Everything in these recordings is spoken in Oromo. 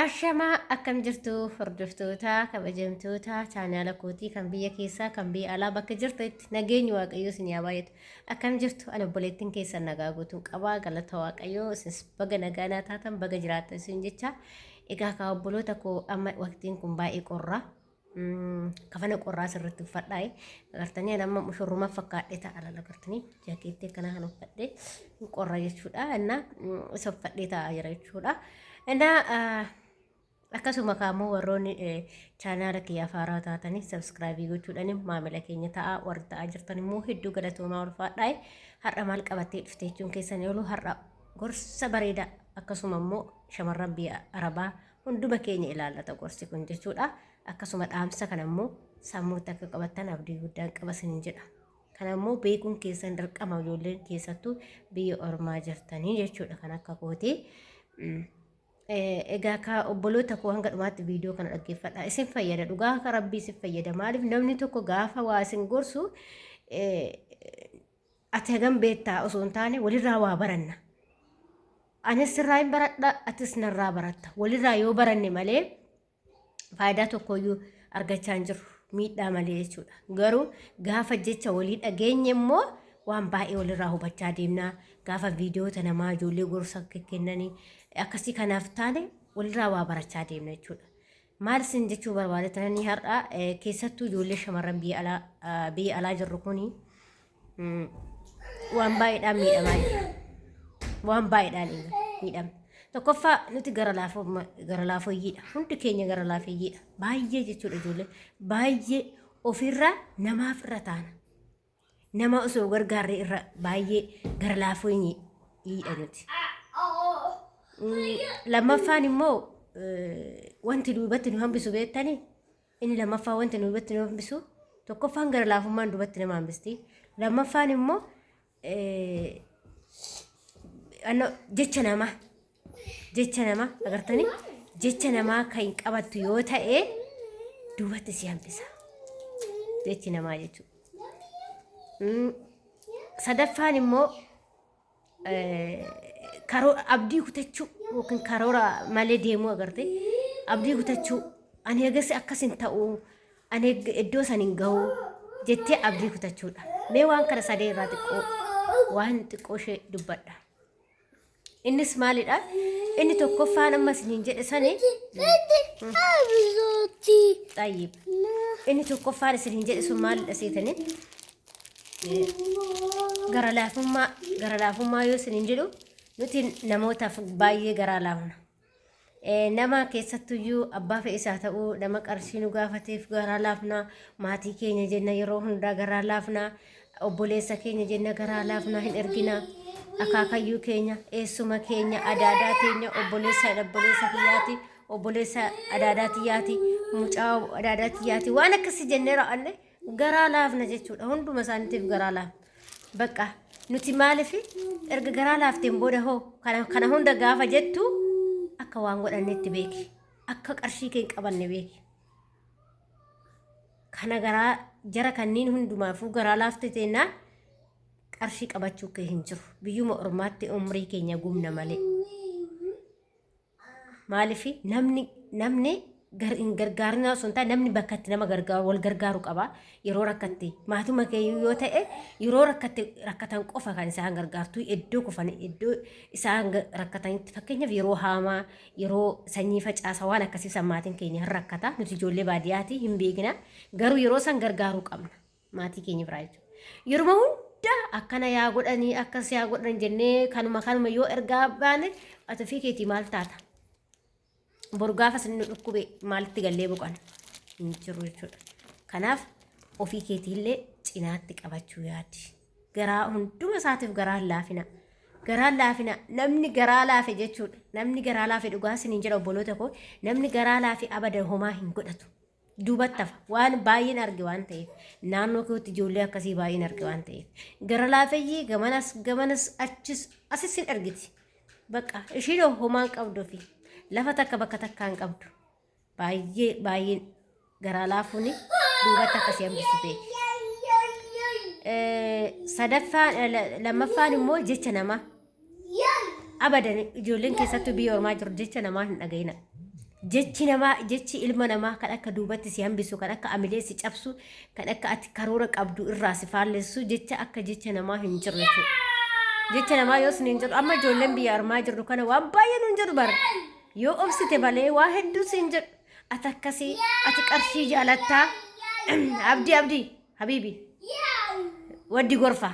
Ashamaa akkam jirtu hordoftoota kabajamtoota chaanaala kootii kan biyya keessaa kan biyya alaa bakka jirtu itti nageenyi waaqayyoo isin yaa baay'atu akkam jirtu an obboleettiin keessan nagaa guutuun qabaa galata waaqayyoo isinis baga nagaa naa taatan baga jiraatan isin jecha egaa kaa obboloota koo amma waqtiin kun baay'ee qorra kafana qorraa sirriitti uffadhaa'e agartanii ani amma mushurrumaa fakkaadhee ta'a laala agartanii jaakeettii akkanaa kan uffadhee qorra jechuudha innaa isa uffadhee ta'a jira jechuudha innaa akkasuma kaammoo warroonni chaanaala kiyyaa faaraa taatanii sabskraabii gochuudhaan maamila keenya ta'a warri ta'a jirtan immoo hedduu galatoomaa ulfaadhaa'e har'a maal qabattee dhufte jechuun keessan yooluu har'a gorsa bareedaa akkasuma immoo shamarran biyya arabaa hunduma keenya ilaallata gorsi kun jechuudha. Akkasuma dhaamsa kana immoo sammuutti akka qabattan abdii guddaan qaba isiniin jedha. Kana immoo beekuun keessan dirqama ijoolleen keessattuu biyya ormaa jirtanii jechuudha kan akka kooti. Mm. Eh, Egaa ka obboloota koo hanga dhumaatti viidiyoo kana dhaggeeffadha. Isin fayyada dhugaa akka rabbii isin fayyada. Maaliif namni tokko gaafa waa isin gorsu eh, Ati hagam beektaa osoo hin taane walirraa waa baranna. Anis sirraa hin baradha, atis narraa baratta. Walirraa yoo baranne malee faayidaa tokkoyyuu argachaa hin jirru. Miidhaa malee jechuudha. Garuu gaafa jecha walii dhageenye immoo waan baay'ee walirraa hubachaa deemna. Gaafa viidiyoota namaa ijoollee gorsa kennanii akkasii kanaaf taane walirraa waa barachaa deemna jechuudha. Maal isin jechuu barbaade tananii har'a eh, keessattuu ijoollee shamarran biyya alaa ah, biyya alaa jirru kuni mm, waan baay'eedhaan miidhamaa jira. Waan baay'eedhaan egaa miidhamna. Tokkoffaa nuti gara laafoo gara laafooyyiidha. Hundi keenya gara laafeeyyiidha. Baay'ee jechuudha ijoollee. Baay'ee ofirraa namaaf irra taana. Nama osoo gargaarre irra baay'ee gara laafuu hin hiidha nuti. Mm, Lammaffaan immoo eh, wanti duubatti nu hambisu beektani inni lammaffaa wanti nu duubatti nu hambisu tokkoffaan gara laafummaan duubatti nama hambisti lammaffaan immoo eh, anno- jecha namaa jecha namaa agartanii jecha namaa kan hin qabattu yoo ta'e duubatti si hambisa jechi namaa jechuudha. Mm, Sadaffaan immoo eh, karoo- abdii kutachuu yookiin karoora malee deemuu agarte abdii kutachuu ani eegas akkas hin ta'u ani eeg- iddoo san hin gahu jettee abdii kutachuudha mee waan kana sadee irraa xiqqoo waan xiqqoo ishee dubbadha Innis maalidha? Inni tokkoffaan amma isiniin jedhe sani. Xayyib. Inni tokkoffaan isiniin jedhe sun maalidha seetanii? Gara laafummaa gara laafummaa yoo isiniin jedhu nuti namootaaf baay'ee garaa laafna. Eh, nama keessattuyyuu abbaa fe'is haa ta'u nama qarshii nu gaafateef garaa laafna maatii keenya jenna yeroo hundaa garaa laafna obboleessa keenya jenna garaa laafna hin ergina akaakayyuu keenya eessuma keenya adaadaa keenya obboleessa obboleessa kiyyaati obboleessa adaadaa tiyyaati mucaa adaadaa tiyyaati waan akkasii jennee raawwanne garaa laafna jechuudha hunduma isaaniitiif garaa laafna bakka nuti maaliif erga garaa laafteen booda hoo kana, kana hunda gaafa jettu akka waan godhannetti beeki akka qarshii kee hin qabanne beeki kana garaa jara kanneen hundumaafuu garaa laafte teennaan qarshii qabachuu kee hin jiru biyyuma ormaatti umrii keenya gubna malee Maaliif namni namni gar- hin gargaarinaa osoo hin taane namni bakka itti nama gargaaru wal gargaaru qaba yeroo rakkatte maatuma keeyyuu yoo ta'e yeroo rakkatte rakkatan qofa kan isaan gargaartu iddoo kufan iddoo isaan ga- rakkatanitti fakkeenyaaf yeroo haamaa yeroo sanyii facaasa waan akkasii san maatiin keenya hin rakkata nuti ijoollee baadiyyaati hin beekina garuu yeroo san gargaaruu qabna. maatii keenya biraa jechuudha. Yeruma hunda akkana yaa godhanii akkas yaa godhan jennee kanuma kanuma yoo ergaa baane ati ofii keetii maal taata? Boru gaafa isin nu dhukkube maalitti gallee boqana? Hin jiru jechuudha. Kanaaf ofii keetiillee cinaatti qabachuu yaadi. Garaa hunduma isaatiif garaa hin laafina. Garaa hin laafina namni garaa laafe jechuudha. Namni garaa laafe dhugaa isin hin jedha obboloota koo namni garaa laafe abada homaa hin godhatu. duubatti hafa waan baay'een arge waan ta'eef naannoo kootti ijoollee akkasii baay'een arge waan ta'eef gara laafeyyii gamanas gamanas achis asis hin argiti bakka ishiin homaan qabdu fi lafa takka bakka takkaan qabdu baay'ee baay'een garaa laafuun duubatti akkasii hambisuu beeki. Sadaffaan lammaffaan immoo jecha namaa Abadan ijoolleen keessattuu biyya ormaa jiru jecha namaa hin dhaga'ina. Jechi namaa jechi ilma namaa kan akka duubatti si hambisu kan akka amilee si cabsu kan akka ati karoora qabdu irraa si faallessu jecha akka jecha namaa hin jiru jechuudha. Jecha namaa yoo sin hin jedhu amma ijoolleen biyya armaa jirru kana waan baay'ee nun jedhu bara. Yoo obsite malee waa hedduu sin jedhu ati akkasii ati qarshii jaalattaa abdii abdii habiibi waddi gorfaa.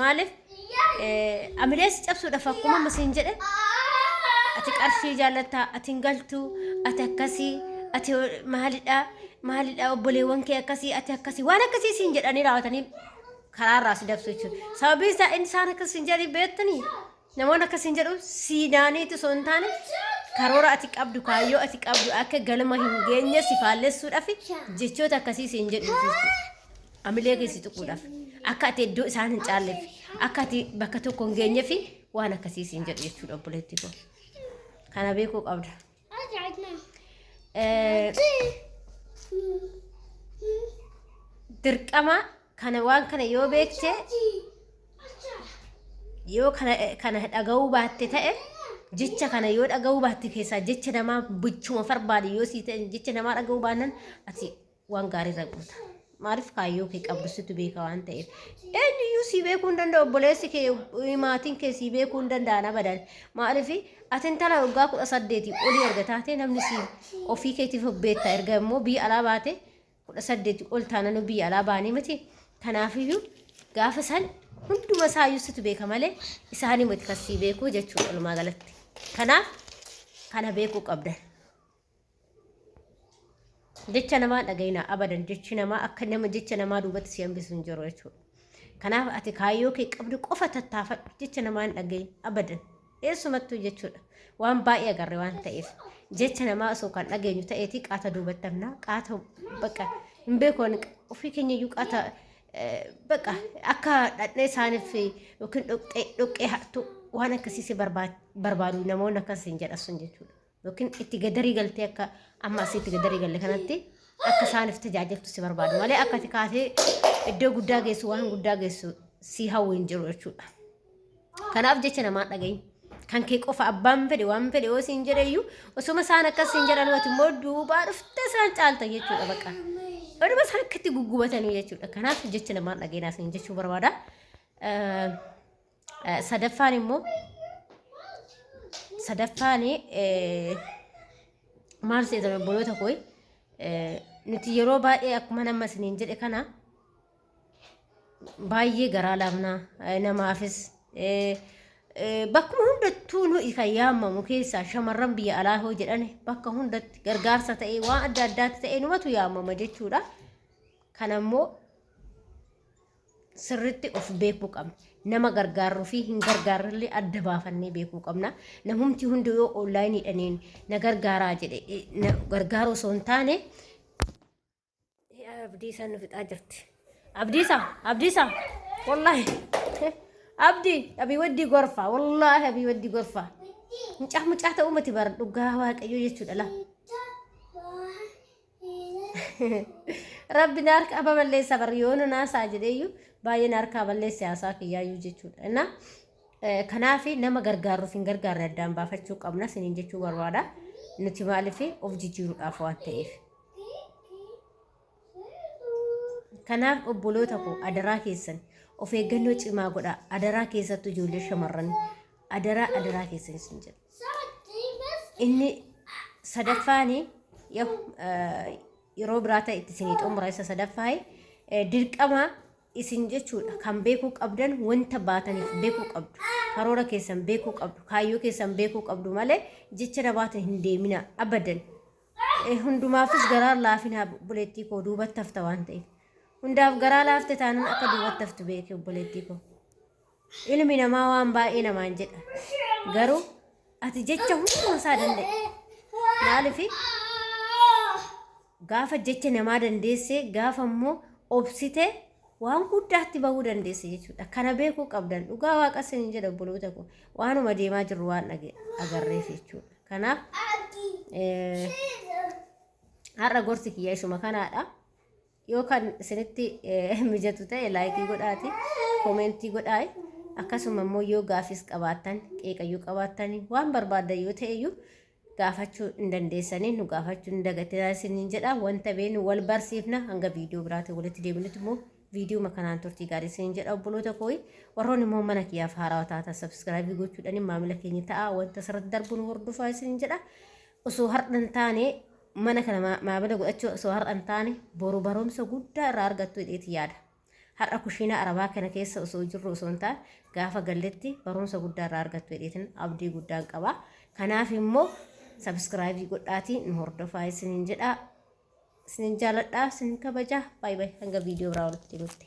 Maaliif amilee si cabsuudhaaf akkuma amma siin jedhe ati qarshii jaallatta ati hin galtu ati akkasii ati maalidha maalidha obboleewwan kee akkasii ati akkasii waan akkasii siin jedhanii raawwatanii karaarraa si dabsu jechuudha. Sababiin isaa inni isaan akkasii siin jedhanii beektanii Namoonni akka siin jedhu siidaaniitu osoo hin taane karoora ati qabdu kaayyoo ati qabdu akka galma hin geenye si faallessuudhaaf jechoota akkasii siin jedhu amilee keessi tuquudhaaf akka ati iddoo isaan hin caalleef akka ati bakka tokko hin geenyeef waan akkasii siin jedhu jechuudha obboleettii koo. Kana beekuu qabda. dirqama kana waan kana yoo beekte yoo kana dhaga'uu baatte ta'e jecha kana yoo dhaga'uu baatte keessaa jecha namaa bichuma farbaade yoo sii ta'e jecha namaa dhaga'uu baannan ati waan gaarii irra goota. Maaliif kaayyoo kee qabdu situ beeka waan ta'eef. Eenyuyyuu sii beekuu hin danda'u obboleessi kee eh, maatiin kee sii beekuu hin danda'an abadan. Maaliif ati intala waggaa kudha saddeetii olii erga taatee namni sii ofii keetiif of beekta erga immoo biyya alaa baate kudha saddeetii ol taananuu biyya alaa baanii miti. Kanaafiyyuu gaafa san hunduma isaayyuu situ beeka malee isaanii miti kan sii beekuu jechuudha walumaa galatti. Kanaaf kana beekuu qabdan. Jecha namaa dhagayina abadan jechi namaa akka nama jecha namaa duubatti si hambisu hin jiru jechuudha. Kanaaf ati kaayyoo kee qabdu qofa tattaafadhu jecha namaa hin dhagayin abadan eessumattuu jechuudha. Waan baay'ee agarre waan ta'eef jecha namaa osoo kan dhageenyu ta'eeti qaata duubatti hamnaa qaata baqa hin beeku ofii keenya iyyuu qaata baqa akka dhadhee isaaniif yookiin dhoqqee hattuu waan akkasii si barbaadu namoonni akkas hin jedhassun jechuudha. yookiin itti gadarii galtee akka amma asii itti gadarii galle kanatti akka isaaniif tajaajiltu si barbaadu malee akka ati kaatee iddoo guddaa geessu waan guddaa geessu si hawwu hin jiru jechuudha. Kanaaf jecha namaa dhagahi. Kan kee qofa abbaan fedhe waan fedhe yoo siin jedheyyuu osuma isaan akkas siin jedhan wati immoo duubaa dhuftee isaan caalta jechuudha baqa. Oduma isaan akkatti guggubatanii jechuudha. Kanaaf jecha namaa dhageenaa siin jechuu barbaada. Eh, Sadaffaan immoo sadaffaan eh, maal seetan obboloota koo eh, nuti yeroo baay'ee akkuma nama isiniin jedhe kana baay'ee garaa laafnaa eh, namaafis eh, eh, bakkuma hundattuu nuyi kan yaamamu keessaa shamarran biyya alaa hoo jedhan bakka hundatti gargaarsa ta'ee waan adda addaatti ta'ee numatu yaamama jechuudha. Kana immoo sirritti of beekuu qabna. Nama gargaarru fi hin gargaarrellee adda baafannee beekuu qabna. Namumti hundi yoo onlaayiniidhaniin na gargaaraa jedhe eh, na gargaaruu osoo hin taane eh, abdiisaa nu fixaa jirti. Abdiisaa, abdiisaa, wallaahi. Abdi, abii waddii gorfaa, wallaahi abii waddii gorfaa. Mucaa mucaa ta'uu miti bara dhugaa waaqayyoo jechuudha laa. Rabbi na harkaa baballeessa bar yoo na naasaa jedheeyyu baay'ee na harkaa balleesse haasaa kiyyaayyuu jechuudha. Innaa eh, kanaaf nama gargaarruuf hin gargaarre addaan baafachuu qabna siniin jechuu barbaada. Nuti maaliif of jijjiiruudhaaf waan ta'eef. Kanaaf obboloota koo adaraa keessan of eeggannoo cimaa godhaa. Adaraa keessattuu ijoollee shamarranii. Adaraa adaraa keessan isin jedha. inni sadaffaani yahu, eh, yeroo biraa ta'e itti isinii xumura isa sadaffaayi eh, dirqama isin jechuudha kan beekuu qabdan wanta baataniif beekuu qabdu karoora keessan beekuu qabdu kaayyoo keessan beekuu qabdu malee jecha nabaatan hin deemina abadan Eh, hundumaafis garaa laafina obboleettii koo duubatti hafta waan ta'eef hundaaf garaa laafte taanan akka duubatti haftu beeki obboleettii koo Ilmi namaa waan baay'ee namaan jedha. Garuu ati jecha hunduma isaa danda'e. Maaliif gaafa jecha namaa dandeessee gaafa immoo obsitee waan guddaatti bahuu dandeesse jechuudha. Kana beekuu qabdan dhugaa waaqa isin jedha obboloota koo waanuma deemaa jirru waan dhage- agarreef jechuudha. Kanaaf eh, har'a gorsi kiyya ishuma kanaadha. Yoo kan isinitti mijatu ta'e laayikii godhaati koomentii godhaayi. Akkasuma immoo yoo gaafis qabaattan qeeqayyuu qabaattan waan barbaaddan yoo ta'eyyuu gaafachuu hin dandeessanii nu gaafachuu hin dagatinaa isiniin jedha wanta beenu wal barsiifna hanga viidiyoo biraatiin walitti deebinutti immoo viidiyoo kanaan turtii gaarii isiniin jedha obboloota kooyi warroon immoo mana kiyyaaf haaraa taata sabskraabii gochuudhaan maamila keenya ta'a wanta asirratti darbuun hordofaa isiniin jedha osoo hardhan taane mana kana maa- maamila godhachuu osoo har'a hin taane boru barumsa guddaa irraa argattu jedheeti yaada. Har'a kushiinaa arabaa kana keessa osoo jirru osoo hin taane gaafa galletti barumsa guddaa irraa argattu jedheetin abdii guddaan qaba. Kanaaf immoo sabiskiraayibii godhaatii nu hordofaa isiniin jedhaa. Isiniin jaaladhaa, isiniin kabajaa. Baay'ee baay'ee hanga viidiyoo biraa walitti deemutti.